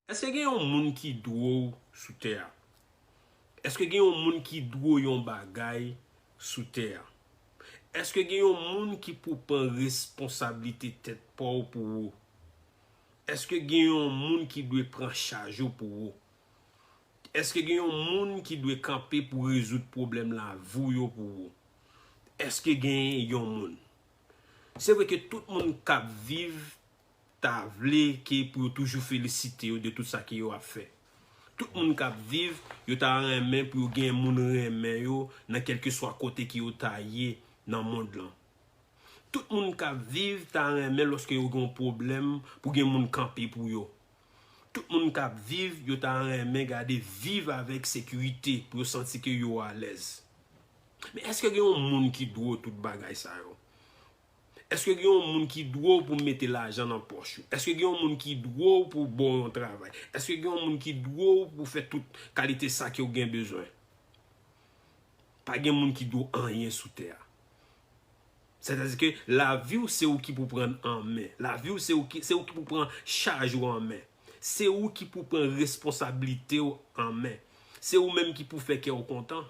Eske gen yon moun ki dwe w sou tè a? Eske gen yon moun ki dwe w yon bagay sou tè a? Eske gen yon moun ki pou pran responsablite tèt pa w pou ou? Eske gen yon moun ki dwe pran chaj ou pou ou? Eske gen yon moun ki dwe kanpe pou rezoud pwoblèm lavi w yo pou ou? Eske gen yon moun? Se vre ke tout moun kab viv ta vle ke pou yo toujou felisite yo de tout sa ke yo ap fè. Tout moun k ap viv, yo ta renmen pou yo gen moun renmen yo nan kèlkeswa kote ke yo ta ye nan mond lan. Tout moun k ap viv ta renmen lòske yo gen yon pwoblèm pou gen moun kanpe pou yo. Tout moun k ap viv, yo ta renmen gade viv avèk sekirite pou yo santi ke yo alèz. Men èske gen yon moun ki dwe w tout bagay sa yo? Eske gen yon moun ki dwe w pou mete lajan nan pòch ou? Eske gen yon moun ki dwe w pou ba w yon travay? Eske gen yon moun ki dwe w pou fè tout kalite sa ke w gen bezwen? Pa gen moun ki dwe w anyen sou tè a. Sètadi ke lavi w se ou ki pou pran an men. Lavi w se ou ki pou pran chaj ou an men. Se ou ki pou pran responsablite w an men. Se ou menm ki pou fè kè w kontan.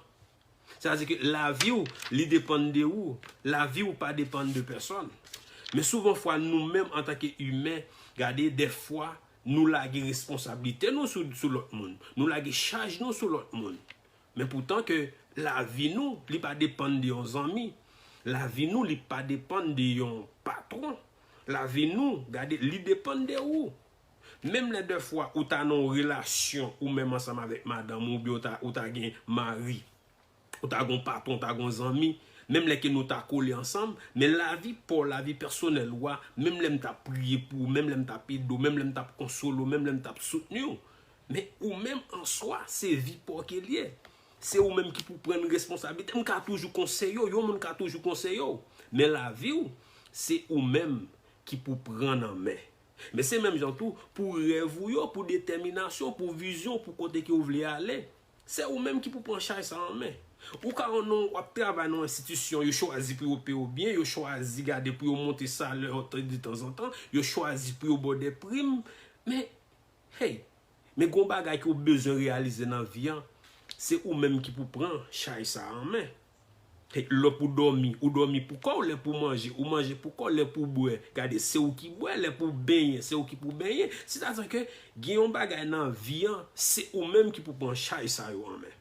Sa vle di ke lavi ou li depann de ou, lavi ou pa depann de pèsòn. Men souvan fwa nou menm antanke imen, gade dèfwa nou lage responsablite nou sou lòt moun, nou lage chaj nou sou lòt moun. Men poutan ke lavi nou li pa depann de yon zanmi, lavi nou li pa depann de yon patwon, lavi nou gade li depann de ou. Menm lè dèfwa ou ta nan yon relasyon ou menm ansanm avèk madanm ou oubyen ou ta gen mari, ou ta gen yon patwon, ou ta gen yon zanmi, menm lè ke nou ta kole ansanm, men lavi pa w, lavi pèsonèl ou a, menm lè m ta priye pou ou, menm lè m ta ap ede w, menm lè m ta ap konsole w, menm lè m ta ap soutni w, men ou menm an swa, se vi pa w ke li ye. Se ou menm ki pou pran responsabilite. M ka toujou konseye w, yon moun ka toujou konseye w, men lavi w, se ou menm ki pou pran nan men. Men se menm jan tou pou rèv ou yo, pou detèminasyon, pou vizyon, pou kote ke ou vle ale. Se ou menm ki pou pran chay sa an men. Ou ka ou non wap travay nan enstitisyon, yo chwazi pou yo peye ou byen, yo chwazi gade pou yo monte salè ou de tanzantan, yo chwazi pou yo ba w de prim, men, hey, Men gon bagay ke w bezwen reyalize nan vi an, se ou menm ki pou pran chay sa an men. Lè pou w dòmi, ou dòmi pou kò w, lè pou w manje, ou manje pou kò w, lè pou w bwè, gade se ou ki bwè, lè pou w benyen, se ou ki pou benyen. Sètadi ke gen yon bagay nan vi an, se ou menm ki pou pran chay sa yo an men.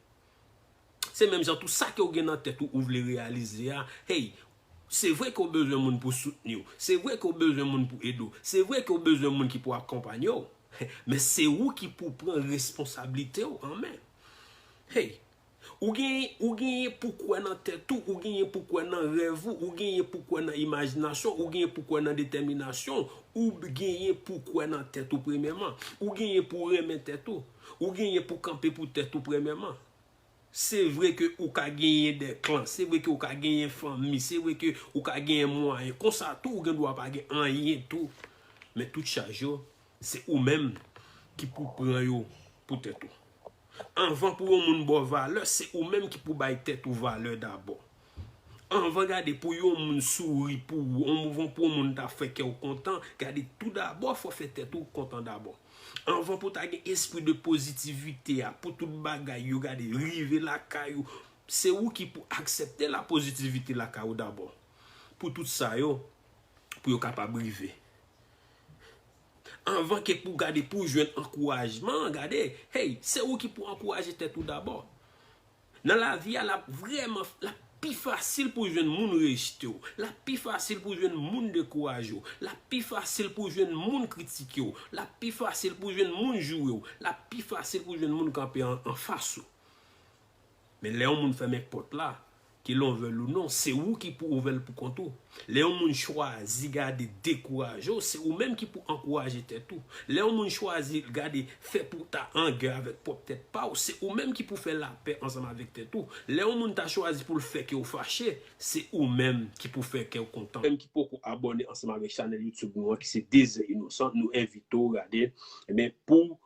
Se menm jan tou sa ke ou gen nan tèt ou ou vle reyalize a, hey, se vre ke ou bezwen moun pou soutni ou, se vre ke ou bezwen moun pou ede ou, se vre ke ou bezwen moun ki pou akonpanye ou, men se ou ki pou w pran responsablite ou an men. Hey, ou gen, ou genyen pou kwè nan tèt ou, ou genyen pou kwè nan rèv ou, ou genyen pou kwè nan imajinasyon ou, ou genyen pou kwè nan detèminasyon ou, ou genyen pou kwè nan tèt ou premyèman, ou genyen pou renmen tèt ou. Ou genyen pou kanpe pou tèt ou premèman. Se vre ke ou ka genyen de klan, se vre ke ou ka genyen fanmi, se vre ke ou ka genyen mwayen. Konsa tou ou gen dwa pa gen anyen tou. Men tout chaj yo, se ou menm ki pou pran yo pou tèt ou. Anvan pou yon moun ba w valè, se ou menm ki pou bay tèt ou valè dabò. Anvan gade pou yon moun souri pou ou, anvan pou yon moun ta fè kè ou kontan, gade tou dabò fò fè tèt ou kontan dabò. Anvan pou ta gen espri de pozitivite a pou tout bagay yo gade rive lakay ou, se ou ki pou aksepte la pozitivite lakay ou dabò. Pou tout sa yo, pou yo kapab rive. Anvan ke pou gade pou jwenn ankourajman, gade, hey, se ou ki pou ankouraje tèt ou dabò. Nan lavi a lap vrèman lap pi fasil pou jwenn moun rejte w, lap pi fasil pou jwenn moun dekouraje w, lap pi fasil pou jwenn moun kritike w, lap pi fasil pou jwenn moun joure w, lap pi fasil pou jwenn moun kanpe anfas ou. Men lè yon moun fèmen pòt la, ke l onvèl ou non, se ou ki pou ouvè l poukont ou. Lè yon moun chwazi gade dekouraje w, se ou menm ki pou ankouraje tèt ou. Lè yon moun chwazi gade fè pou w ta an gè avèk pwòp tèt pa w, se ou menm ki pou fè lapè ansanm avèk tèt ou. Lè yon moun ta chwazi pou l fè kè w fache, se ou menm ki pou fè kè w kontan. Menm ki poko abòne ansanm avèk chanèl youtube nou an ki se Dezè Inosan, nou envite w gade men pou w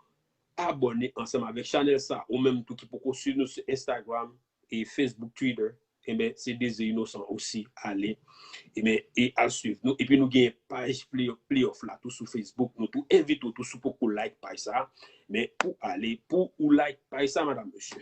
abòne ansanm avèk chanèl sa. Ou menm tou ki poko swiv nou sou Instagram, e Facebook twitter enben se dezi inosan osi ale enben e al swiv nou epi nou gen paj playoff la tou sou Facebook nou tou envite ou tou si w poko like paj sa men pou ale pou ou like paj sa madam mesye.